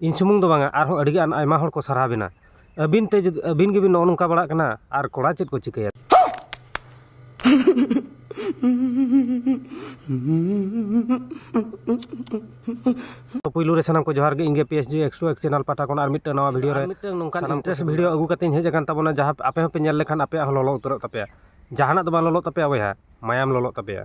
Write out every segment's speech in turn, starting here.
ᱤᱧ ᱥᱩᱢᱩᱝ ᱫᱚ ᱵᱟᱝᱟ ᱟᱨᱦᱚᱸ ᱟᱹᱰᱤ ᱜᱟᱱ ᱟᱭᱢᱟ ᱦᱚᱲ ᱠᱚ ᱥᱟᱨᱦᱟᱣ ᱵᱮᱱᱟ ᱟᱹᱵᱤᱱ ᱛᱮ ᱡᱩᱫᱤ ᱟᱹᱵᱤᱱ ᱜᱮᱵᱤᱱ ᱱᱚᱜᱼᱚ ᱱᱚᱝᱠᱟ ᱵᱟᱲᱟᱜ ᱠᱟᱱᱟ ᱟᱨ ᱠᱚᱲᱟ ᱪᱮᱫ ᱠᱚ ᱪᱤᱠᱟᱹᱭᱟ ᱯᱩᱭᱞᱩ ᱨᱮ ᱥᱟᱱᱟᱢ ᱠᱚ ᱡᱚᱦᱟᱨ ᱜᱮ ᱤᱧ ᱜᱮ P S G X two X channel ᱯᱟᱦᱴᱟ ᱠᱷᱚᱱ ᱟᱨ ᱢᱤᱫᱴᱟᱝ ᱱᱟᱣᱟ ᱵᱷᱤᱰᱤᱭᱳ ᱨᱮ ᱢᱤᱫᱴᱟᱝ ᱱᱚᱝᱠᱟᱱ ᱥᱟᱱᱟᱢ ᱤᱱᱴᱟᱨᱮᱥᱴ ᱵᱷᱤᱰᱤᱭᱳ ᱟᱹᱜᱩ ᱠᱟᱛᱮᱧ ᱦᱮᱡ ᱟᱠᱟᱱ ᱛᱟᱵᱚᱱᱟ ᱡᱟᱦᱟᱸ ᱟᱯᱮ ᱦᱚᱸᱯᱮ ᱧᱮᱞ ᱞᱮᱠᱷᱟᱱ ᱟᱯᱮᱭᱟᱜ ᱦᱚᱸ ᱞᱚᱞᱚ ᱩᱛᱟᱹᱨᱚᱜ ᱛᱟᱯᱮᱭᱟ ᱡᱟᱦᱟᱱᱟᱜ ᱫᱚ ᱵᱟᱝ ᱞᱚᱞᱚᱜ ᱛᱟᱯᱮᱭᱟ ᱵᱚᱭᱦᱟ ᱢᱟᱭᱟᱢ ᱞᱚᱞᱚᱜ ᱛᱟᱯᱮᱭᱟ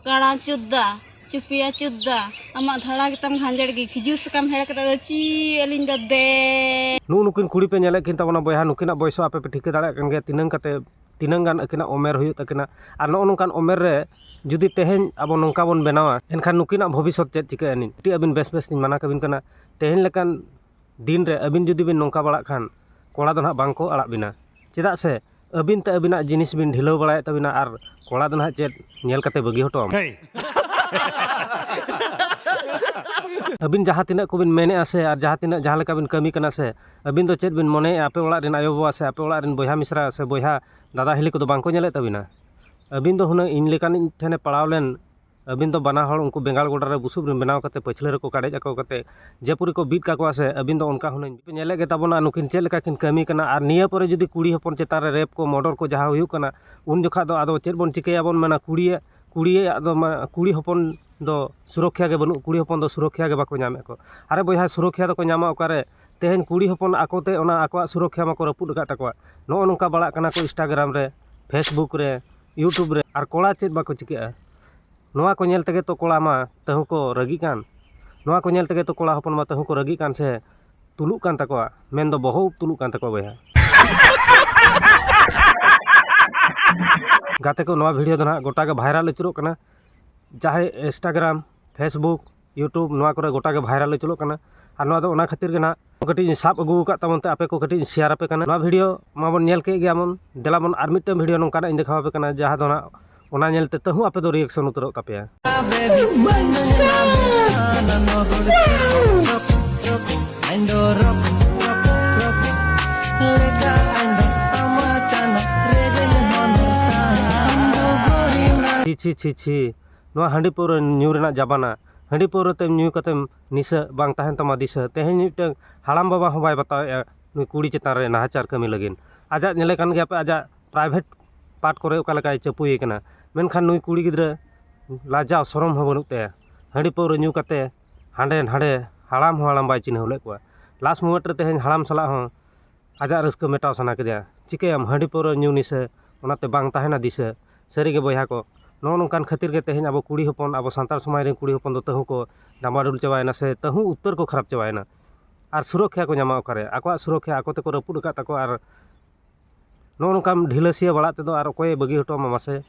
ᱠᱟᱬᱟ ᱪᱩᱫᱫᱟ ᱪᱩᱯᱤᱭᱟ ᱪᱩᱫᱫᱟ ᱟᱢᱟᱜ ᱫᱷᱟᱲᱟ ᱜᱮᱛᱟᱢ ᱜᱷᱟᱸᱡᱮᱲ ᱜᱮ ᱠᱷᱤᱡᱩᱨ ᱥᱟᱠᱟᱢ ᱦᱮᱲ ᱠᱟᱛᱮ ᱫᱚ ᱪᱤ ᱟᱹᱞᱤᱧ ᱫᱚ ᱫᱮ ᱱᱩᱜ ᱱᱩᱠᱤᱱ ᱠᱩᱲᱤ ᱯᱮ ᱧᱮᱞᱮᱫ ᱠᱤᱱ ᱛᱟᱵᱚᱱᱟ ᱵᱚᱭᱦᱟ ᱱᱩᱠᱤᱱᱟᱜ ᱵᱚᱭᱮᱥ ᱟᱯᱮ ᱯᱮ ᱴᱷᱤᱠᱟᱹ ᱫᱟᱲᱮᱭᱟᱜ ᱠᱟᱱ ᱜᱮᱭᱟ ᱛᱤᱱᱟᱹᱝ ᱠᱟᱛᱮ ᱛᱤᱱᱟᱹᱝ ᱜᱟᱱ ᱟᱹᱠᱤᱱᱟᱜ ᱩᱢᱮᱨ ᱦᱩᱭᱩᱜ ᱛᱟᱹᱠᱤᱱᱟ ᱟᱨ ᱱᱚᱜᱼᱚ ᱱᱚᱝᱠᱟᱱ ᱩᱢᱮᱨ ᱨᱮ ᱡᱩᱫᱤ ᱛᱮᱦᱮᱧ ᱟᱵᱚ ᱱᱚᱝᱠᱟ ᱵᱚᱱ ᱵᱮᱱᱟᱣᱟ ᱮᱱᱠᱷᱟᱱ ᱱᱩᱠᱤᱱᱟᱜ ᱵᱷᱚᱵᱤᱥᱥᱚᱛ ᱪᱮᱫ ᱪᱤᱠᱟᱹᱜᱼᱟ ᱟᱹᱰᱤ ᱟᱹᱵᱤᱱ ᱵᱮᱥ ᱵᱮᱥ ᱞᱤᱧ ᱢᱟᱱᱟ ᱠᱟᱵᱤᱱ ᱠᱟᱱᱟ ᱛᱮᱦᱮᱧ ᱞᱮᱠᱟᱱ ᱫᱤᱱ ᱨᱮ ᱟᱵᱤᱱ ᱡᱩᱫᱤ ᱵᱤᱱ ᱱᱚᱝᱠᱟ ᱵᱟᱲᱟᱜ ᱠᱷᱟᱱ ᱠᱚᱲᱟ ᱫᱚ ᱱᱟᱦᱟᱜ ᱵᱟᱝᱠᱚ ᱟᱲᱟᱜ ᱵᱤᱱᱟ ᱪᱮᱫᱟᱜ ᱥᱮ ᱟᱵᱤᱱ ᱛᱮ ᱟᱵᱤᱱᱟᱜ ᱡᱤᱱᱤᱥ ᱵᱤᱱ ᱰᱷᱤᱞᱟᱹᱣ ᱵᱟᱲᱟᱭᱮᱫ ᱛᱟᱵᱤᱱᱟ ᱟᱨ ᱠᱚᱲᱟ ᱫᱚ ᱱᱟᱦᱟᱜ ᱪᱮᱫ ᱧᱮᱞ ᱠᱟᱛᱮ ᱵᱟᱹᱜᱤ ᱦᱚᱴᱚ ᱟᱢᱟ ᱟᱵᱤᱱ ᱡᱟᱦᱟᱸ ᱛᱤᱱᱟᱹᱜ ᱠᱚᱵᱤᱱ ᱢᱮᱱᱮᱜᱼᱟ ᱥᱮ ᱟᱨ ᱡᱟᱦᱟᱸ ᱛᱤᱱᱟᱹᱜ ᱡᱟᱦᱟᱸ ᱞᱮᱠᱟ ᱵᱤᱱ ᱠᱟᱹᱢᱤ ᱠᱟᱱᱟ ᱥᱮ ᱟᱵᱤᱱ ᱫᱚ ᱪᱮᱫ ᱵᱤᱱ ᱢᱚᱱᱮᱭᱮᱜᱼᱟ ᱟᱯᱮ ᱚᱲᱟᱜ ᱨᱮᱱ ᱟᱭᱳ ᱵᱟᱵᱟ ᱥᱮ ᱟᱯᱮ ᱚᱲᱟᱜ ᱨᱮᱱ ᱵᱚᱭᱦᱟ ᱢᱤᱥᱨᱟ ᱥᱮ ᱵᱚᱭᱦᱟ ᱫᱟᱫᱟ ᱦᱤᱞᱤ ᱠᱚᱫᱚ ᱵᱟᱝᱠᱚ ᱧᱮᱞᱮᱫ ᱛᱟᱵᱤᱱᱟ ᱟᱵᱤᱱ ᱫᱚ ᱦᱩᱱᱟᱹᱝ ᱤᱧ ᱞᱮᱠᱟᱱᱤᱡ ᱴᱷᱮᱱᱮ ᱯᱟᱲᱟᱣ ᱞᱮᱱ ᱟᱹᱵᱤᱱ ᱫᱚ ᱵᱟᱱᱟ ᱦᱚᱲ ᱩᱱᱠᱩ ᱵᱮᱸᱜᱟᱲ ᱜᱚᱰᱟ ᱨᱮ ᱵᱩᱥᱩᱵ ᱨᱮ ᱵᱮᱱᱟᱣ ᱠᱟᱛᱮᱫ ᱯᱟᱹᱪᱷᱞᱟᱹ ᱨᱮᱠᱚ ᱠᱟᱰᱮᱡ ᱟᱠᱚ ᱠᱟᱛᱮᱫ ᱡᱮ ᱯᱚᱨᱤ ᱠᱚ ᱵᱤᱫ ᱠᱟᱠᱚᱣᱟ ᱥᱮ ᱟᱹᱵᱤᱱ ᱫᱚ ᱚᱱᱠᱟ ᱦᱩᱱᱟᱹᱝ ᱯᱮ ᱧᱮᱞᱮᱫ ᱜᱮᱛᱟ ᱵᱚᱱᱟ ᱱᱩᱠᱤᱱ ᱪᱮᱫ ᱞᱮᱠᱟ ᱠᱤᱱ ᱠᱟᱹᱢᱤ ᱠᱟᱱᱟ ᱟᱨ ᱱᱤᱭᱟᱹ ᱯᱚᱨᱮ ᱡᱩᱫᱤ ᱠᱩᱲᱤ ᱦᱚᱯᱚᱱ ᱪᱮᱛᱟᱱ ᱨᱮ ᱨᱮᱯ ᱠᱚ ᱢᱚᱨᱰᱚᱨ ᱠᱚ ᱡᱟᱦᱟᱸ ᱦᱩᱭᱩᱜ ᱠᱟᱱᱟ ᱩᱱ ᱡᱚᱠᱷᱟᱡ ᱫᱚ ᱟᱫᱚ ᱪᱮᱫ ᱵᱚᱱ ᱪᱤᱠᱟᱹᱭᱟ ᱵᱚᱱ ᱢᱮᱱᱟ ᱠᱩᱲᱤᱭᱟᱜ ᱠᱩᱲᱤᱭᱟᱜ ᱫᱚ ᱢᱟᱱᱮ ᱠᱩᱲᱤ ᱦᱚᱯᱚᱱ ᱫᱚ ᱥᱩᱨᱚᱠᱠᱷᱟ ᱜᱮ ᱵᱟᱹᱱᱩᱜ ᱠᱩᱲᱤ ᱦᱚᱯᱚᱱ ᱫᱚ ᱥᱩᱨᱚᱠᱠᱷᱟ ᱜᱮ ᱵᱟᱠᱚ ᱧᱟᱢᱮᱫ ᱠᱚ ᱟᱨᱮ ᱵᱚᱭᱦᱟ ᱥᱩᱨᱚᱠᱠᱷᱟ ᱫᱚᱠᱚ ᱧᱟᱢᱟ ᱚᱠᱟᱨᱮ ᱛᱮᱦᱮᱧ ᱠᱩᱲᱤ ᱦᱚᱯᱚᱱ ᱟᱠᱚ ᱛᱮ ᱚᱱᱟ ᱟᱠᱚᱣᱟᱜ ᱥᱩᱨᱚᱠᱠᱷᱟ ᱢᱟᱠᱚ ᱨᱟᱹᱯᱩᱫ ᱟᱠᱟᱫ ᱛᱟᱠᱚᱣᱟ ᱱᱚᱜᱼᱚ ᱱᱚᱝᱠᱟ ᱵᱟᱲᱟᱜ ᱠᱟᱱᱟ ᱠᱚ ᱤᱱᱥᱴᱟᱜᱨᱟᱢ ᱨᱮ ᱯᱷᱮᱥᱵᱩᱠ ᱨᱮ ᱤᱭᱩᱴᱩᱵᱽ ᱨᱮ ᱟᱨ ᱠᱚᱲᱟ ᱪᱮᱫ ᱵᱟᱠᱚ ᱪᱤᱠᱟᱹᱜᱼᱟ ᱱᱚᱣᱟ ᱠᱚ ᱧᱮᱞ ᱛᱮᱜᱮ ᱛᱚ ᱠᱚᱲᱟ ᱢᱟ ᱛᱟᱹᱦᱩ ᱠᱚ ᱨᱟᱹᱜᱤᱜ ᱠᱟᱱ ᱱᱚᱣᱟ ᱠᱚ ᱧᱮᱞ ᱛᱮᱜᱮ ᱛᱚ ᱠᱚᱲᱟ ᱦᱚᱯᱚᱱ ᱢᱟ ᱛᱟᱹᱦᱩ ᱠᱚ ᱨᱟᱹᱜᱤᱜ ᱠᱟᱱ ᱥᱮ ᱛᱩᱞᱩᱜ ᱠᱟᱱ ᱛᱟᱠᱚᱣᱟ ᱢᱮᱱ ᱫᱚ ᱵᱚᱦᱚᱜ ᱩᱵ ᱛᱩᱞᱩᱜ ᱠᱟᱱ ᱛᱟᱠᱚᱣᱟ ᱵᱚᱭᱦᱟ ᱜᱟᱛᱮ ᱠᱚ ᱱᱚᱣᱟ ᱵᱷᱤᱰᱤᱭᱳ ᱫᱚ ᱱᱟᱦᱟᱜ ᱜᱚᱴᱟ ᱜᱮ ᱵᱷᱟᱭᱨᱟᱞ ᱟᱹᱪᱩᱨᱚᱜ ᱠᱟᱱᱟ ᱡᱟᱦᱟᱸᱭ ᱤᱱᱥᱴᱟᱜᱨᱟᱢ ᱯᱷᱮᱥᱵᱩᱠ ᱤᱭᱩᱴᱩᱵᱽ ᱱᱚᱣᱟ ᱠᱚᱨᱮ ᱜᱚᱴᱟ ᱜᱮ ᱵᱷᱟᱭᱨᱟᱞ ᱩᱪᱩᱨᱚᱜ ᱠᱟᱱᱟ ᱟᱨ ᱱᱚᱣᱟ ᱫᱚ ᱚᱱᱟ ᱠᱷᱟᱹᱛᱤᱨ ᱜᱮ ᱱᱟᱜ ᱠᱟᱹᱴᱤᱡ ᱤᱧ ᱥᱟᱵ ᱟᱹᱜᱩ ᱟᱠᱟᱫ ᱛᱟᱵᱚᱱ ᱛᱮ ᱟᱯᱮ ᱠᱚ ᱠᱟᱹᱴᱤᱡ ᱤᱧ ᱥᱮᱭᱟᱨ ᱟᱯᱮ ᱠᱟᱱᱟ ᱱᱚᱣᱟ ᱵᱷᱤᱰᱭᱳ ᱢᱟᱵᱚᱱ ᱧᱮᱞ ᱠᱮᱫ ᱜᱮᱭᱟ ᱵᱚᱱ ᱫᱮᱞᱟ ᱵᱚᱱ ᱟᱨ ᱢᱤᱫᱴᱟᱹᱝ ᱵᱷᱤᱰᱭᱳ ᱱᱚᱝᱠᱟᱱᱟᱜ ᱤᱧ ᱫᱮᱠᱷᱟᱣ ᱟᱯᱮ ᱠᱟᱱᱟ ᱡᱟᱦᱟᱸ ᱫᱚ ᱱᱟᱜ ᱚᱱᱟ ᱧᱮᱞ ᱛᱮ ᱛᱟᱹᱦᱩ ᱟᱯᱮ ᱫᱚ ᱨᱤᱭᱮᱠᱥᱚᱱ ᱩᱛᱟᱹᱨᱚᱜ ᱛᱟᱯᱮᱭᱟ ᱪᱷᱤ ᱪᱷᱤ ᱪᱷᱤ ᱪᱷᱤ ᱱᱚᱣᱟ ᱦᱟᱺᱰᱤ ᱯᱟᱹᱣᱨᱟᱹ ᱧᱩ ᱨᱮᱱᱟᱜ ᱡᱟᱵᱟᱱᱟ ᱦᱟᱺᱰᱤ ᱯᱟᱹᱣᱨᱟᱹ ᱛᱮ ᱧᱩ ᱠᱟᱛᱮᱢ ᱱᱤᱥᱟᱹᱜ ᱵᱟᱝ ᱛᱟᱦᱮᱱ ᱛᱟᱢᱟ ᱫᱤᱥᱟᱹ ᱛᱮᱦᱮᱧ ᱢᱤᱫᱴᱟᱹᱝ ᱦᱟᱲᱟᱢ ᱵᱟᱵᱟ ᱦᱚᱸ ᱵᱟᱭ ᱵᱟᱛᱟᱣᱮᱫᱼᱟ ᱱᱩᱭ ᱠᱩᱲᱤ ᱪᱮᱛᱟᱱ ᱨᱮ ᱱᱟᱦᱟᱪᱟᱨ ᱠᱟᱹᱢᱤ ᱞᱟᱹᱜᱤᱫ ᱟᱡᱟᱜ ᱧᱮᱞᱮ ᱠᱟᱱ ᱜᱮᱭᱟᱯᱮ ᱟᱡᱟᱜ ᱯᱨᱟᱭᱵᱷᱮᱴ ᱯᱟᱨᱴ ᱠᱚᱨᱮ ᱚᱠᱟ ᱞᱮᱠᱟᱭ ᱪᱟᱹᱯᱩᱭᱮ ᱠᱟᱱᱟ ᱢᱮᱱᱠᱷᱟᱱ ᱱᱩᱭ ᱠᱩᱲᱤ ᱜᱤᱫᱽᱨᱟᱹ ᱞᱟᱡᱟᱣ ᱥᱚᱨᱚᱢ ᱦᱚᱸ ᱵᱟᱹᱱᱩᱜ ᱛᱟᱭᱟ ᱦᱟᱺᱰᱤ ᱯᱟᱹᱣᱨᱟᱹ ᱧᱩ ᱠᱟᱛᱮ ᱦᱟᱸᱰᱮ ᱱᱟᱸᱰᱮ ᱦᱟᱲᱟᱢ ᱦᱚᱸ ᱦᱟᱲᱟᱢ ᱵᱟᱭ ᱪᱤᱱᱦᱟᱹᱣ ᱞᱮᱫ ᱠᱚᱣᱟ ᱞᱟᱥᱴ ᱢᱩᱢᱮᱱᱴ ᱨᱮ ᱛᱮᱦᱮᱧ ᱦᱟᱲᱟᱢ ᱥᱟᱞᱟᱜ ᱦᱚᱸ ᱟᱡᱟᱜ ᱨᱟᱹᱥᱠᱟᱹ ᱢᱮᱴᱟᱣ ᱥᱟᱱᱟ ᱠᱮᱫᱮᱭᱟ ᱪᱤᱠᱟᱹᱭᱟᱢ ᱦᱟᱺᱰᱤ ᱯᱟᱹᱣᱨᱟᱹ ᱧᱩ ᱱᱤᱥᱟᱹ ᱚᱱᱟᱛᱮ ᱵᱟᱝ ᱛᱟᱦᱮᱱᱟ ᱫᱤᱥᱟᱹ ᱥᱟᱹᱨᱤᱜᱮ ᱵᱚᱭᱦᱟ ᱠᱚ ᱱᱚᱜᱼᱚ ᱱᱚᱝᱠᱟᱱ ᱠᱷᱟᱹᱛᱤᱨ ᱜᱮ ᱛᱮᱦᱮᱧ ᱟᱵᱚ ᱠᱩᱲᱤ ᱦᱚᱯᱚᱱ ᱟᱵᱚ ᱥᱟᱱᱛᱟᱲ ᱥᱚᱢᱟᱡᱽ ᱨᱮᱱ ᱠᱩᱲᱤ ᱦᱚᱯᱚᱱ ᱫᱚ ᱛᱟᱹᱦᱩ ᱠᱚ ᱰᱟᱢᱟᱰᱳᱞ ᱪᱟᱵᱟᱭᱮᱱᱟ ᱥᱮ ᱛᱟᱹᱦᱩ ᱩᱛᱟᱹᱨ ᱠᱚ ᱠᱷᱟᱨᱟᱯ ᱪᱟᱵᱟᱭᱮᱱᱟ ᱟᱨ ᱥᱩᱨᱚᱠᱠᱷᱟ ᱠᱚ ᱧᱟᱢᱟ ᱚᱠᱟᱨᱮ ᱟᱠᱚᱣᱟᱜ ᱥᱩᱨᱚᱠᱠᱷᱟ ᱟᱠᱚ ᱛᱮᱠᱚ ᱨᱟᱹᱯᱩᱫ ᱟᱠᱟᱫ ᱛᱟᱠᱚᱣᱟ ᱟᱨ ᱱᱚᱜᱼᱚ ᱱᱚᱝᱠᱟᱢ ᱰᱷᱤᱞᱟᱹ ᱥᱤᱭᱟᱹ ᱵᱟᱲᱟᱜ ᱛᱮᱫᱚ ᱟᱨ ᱚᱠᱚᱭᱮ ᱵᱟᱹᱜᱤ ᱦᱚᱴᱚ ᱟᱢᱟ ᱢᱟᱥᱮ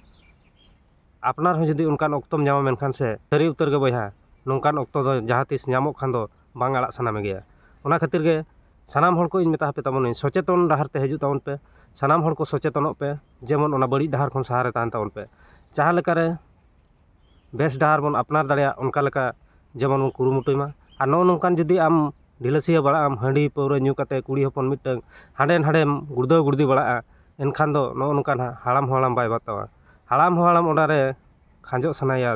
ᱟᱯᱱᱟᱨ ᱦᱚᱸ ᱡᱩᱫᱤ ᱚᱱᱠᱟᱱ ᱚᱠᱛᱚᱢ ᱧᱟᱢᱟ ᱢᱮᱱᱠᱷᱟᱱ ᱥᱮ ᱥᱟᱹᱨᱤ ᱩᱛᱟᱹᱨ ᱜᱮ ᱵᱚᱭᱦᱟ ᱱᱚᱝᱠᱟᱱ ᱚᱠᱛᱚ ᱫᱚ ᱡᱟᱦᱟᱸ ᱛᱤᱥ ᱧᱟᱢᱚᱜ ᱠᱷᱟᱱ ᱫᱚ ᱵᱟᱝ ᱟᱲᱟᱜ ᱥᱟᱱᱟ ᱢᱮᱜᱮᱭᱟ ᱚᱱᱟ ᱠᱷᱟᱹᱛᱤᱨ ᱜᱮ ᱥᱟᱱᱟᱢ ᱦᱚᱲ ᱠᱚᱧ ᱢᱮᱛᱟ ᱯᱮ ᱛᱟᱵᱚᱱᱟ ᱥᱚᱪᱮᱛᱚᱱ ᱰᱟᱦᱟᱨ ᱛᱮ ᱦᱤᱡᱩᱜ ᱛᱟᱵᱚᱱ ᱯᱮ ᱥᱟᱱᱟᱢ ᱦᱚᱲ ᱠᱚ ᱥᱚᱪᱮᱛᱚᱱᱚᱜ ᱯᱮ ᱡᱮᱢᱚᱱ ᱚᱱᱟ ᱵᱟᱹᱲᱤᱡ ᱰᱟᱦᱟᱨ ᱠᱷᱚᱱ ᱥᱟᱦᱟᱨᱮ ᱛᱟᱦᱮᱱ ᱛᱟᱵᱚᱱ ᱯᱮ ᱡᱟᱦᱟᱸ ᱞᱮᱠᱟᱨᱮ ᱵᱮᱥ ᱰᱟᱦᱟᱨ ᱵᱚᱱ ᱟᱯᱱᱟᱨ ᱫᱟᱲᱮᱭᱟᱜ ᱚᱱᱠᱟ ᱞᱮᱠᱟ ᱡᱮᱢᱚᱱ ᱵᱚᱱ ᱠᱩᱨᱩᱢᱩᱴᱩᱭ ᱢᱟ ᱟᱨ ᱱᱚᱜᱼᱚ ᱱᱚᱝᱠᱟᱱ ᱡᱩᱫᱤ ᱟᱢ ᱰᱷᱤᱞᱟᱹᱥᱤᱭᱟᱹ ᱵᱟᱲᱟᱜ ᱟᱢ ᱦᱟᱺᱰᱤ ᱯᱟᱹᱣᱨᱟᱹ ᱧᱩ ᱠᱟᱛᱮ ᱠᱩᱲᱤ ᱦᱚᱯᱚᱱ ᱢᱤᱫᱴᱟᱹᱝ ᱦᱟᱸᱰᱮ ᱱᱟᱰᱮᱢ ᱜᱩᱲᱫᱟᱹᱣ ᱜᱩᱲᱫᱤ ᱵᱟᱲᱟᱜᱼᱟ ᱮᱱᱠᱷᱟᱱ ᱫᱚ ᱱᱚᱜᱼᱚ ᱱᱚᱝᱠᱟ ᱱᱟᱜ ᱦᱟᱲᱟᱢ ᱦᱚᱸ ᱦᱟᱲᱟᱢ ᱵᱟᱭ ᱵᱟᱛᱟᱣᱟ ᱦᱟᱲᱟᱢ ᱦᱚᱸ ᱦᱟᱲᱟᱢ ᱚᱱᱟᱨᱮ ᱠᱷᱟᱸᱡᱚᱜ ᱥᱟᱱᱟᱭᱮᱭᱟ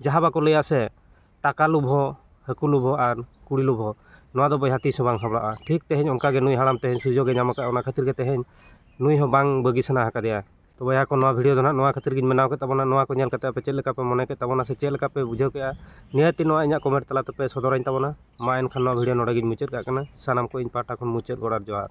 ᱡᱟᱦᱟᱸ ᱵᱟᱠᱚ ᱞᱟᱹᱭᱟ ᱥᱮ ᱴᱟᱠᱟ ᱞᱳᱵᱷ ᱦᱚᱸ ᱦᱟᱹᱠᱩ ᱞᱳᱵᱷ ᱦᱚᱸ ᱟᱨ ᱠᱩᱲᱤ ᱞᱳᱵᱷ ᱦᱚᱸ ᱱᱚᱣᱟ ᱫᱚ ᱵᱚᱭᱦᱟ ᱛᱤᱥ ᱦᱚᱸ ᱵᱟᱝ ᱥᱟᱸᱵᱽᱲᱟᱜᱼᱟ ᱴᱷᱤᱠ ᱛᱮᱦᱮᱧ ᱚᱱᱠᱟ ᱜᱮ ᱱᱩᱭ ᱦᱟᱲᱟᱢ ᱛᱮᱦᱮᱧ ᱥᱩᱡᱳᱜᱽ ᱮ ᱧᱟᱢ ᱠᱟᱜᱼᱟ ᱚᱱᱟ ᱠᱷᱟᱹᱛᱤᱨ ᱜᱮ ᱛᱮᱦᱮᱧ ᱱᱩᱭ ᱦᱚᱸ ᱵᱟᱝ ᱵᱟᱹᱜᱤ ᱥᱟᱱᱟ ᱟᱠᱟᱫᱮᱭᱟ ᱛᱚ ᱵᱚᱭᱦᱟ ᱠᱚ ᱱᱚᱣᱟ ᱵᱷᱤᱰᱭᱳ ᱫᱚ ᱦᱟᱸᱜ ᱱᱚᱣᱟ ᱠᱷᱟᱹᱛᱤᱨ ᱜᱤᱧ ᱵᱮᱱᱟᱣ ᱠᱮᱫ ᱛᱟᱵᱚᱱᱟ ᱱᱚᱣᱟ ᱠᱚ ᱧᱮᱞ ᱠᱟᱛᱮᱫ ᱟᱯᱮ ᱪᱮᱫ ᱞᱮᱠᱟ ᱯᱮ ᱢᱚᱱᱮ ᱠᱮᱫ ᱛᱟᱵᱚᱱᱟ ᱥᱮ ᱪᱮᱫ ᱞᱮᱠᱟ ᱯᱮ ᱵᱩᱡᱷᱟᱹᱣ ᱠᱮᱜᱼᱟ ᱱᱤᱦᱟᱹᱛ ᱜᱮ ᱱᱚᱣᱟ ᱤᱧᱟᱹᱜ ᱠᱚᱢᱮᱱᱴ ᱛᱟᱞᱟ ᱛᱮᱯᱮ ᱥᱚᱫᱚᱨᱟᱹᱧ ᱛᱟᱵᱚᱱᱟ ᱢᱟ ᱮᱱᱠᱷᱟᱱ ᱱᱚᱣᱟ ᱵᱷᱤᱰᱭᱳ ᱱᱚᱰᱮ ᱜᱤᱧ ᱢᱩᱪᱟᱹᱫ ᱠᱟᱜ ᱠᱟᱱᱟ ᱥᱟᱱᱟᱢ ᱠᱚ ᱤᱧ ᱯᱟᱦᱴᱟ ᱠᱷᱚᱱ ᱢᱩᱪᱟᱹᱫ ᱜᱚᱰ ᱟᱨ ᱡᱚᱦᱟᱨ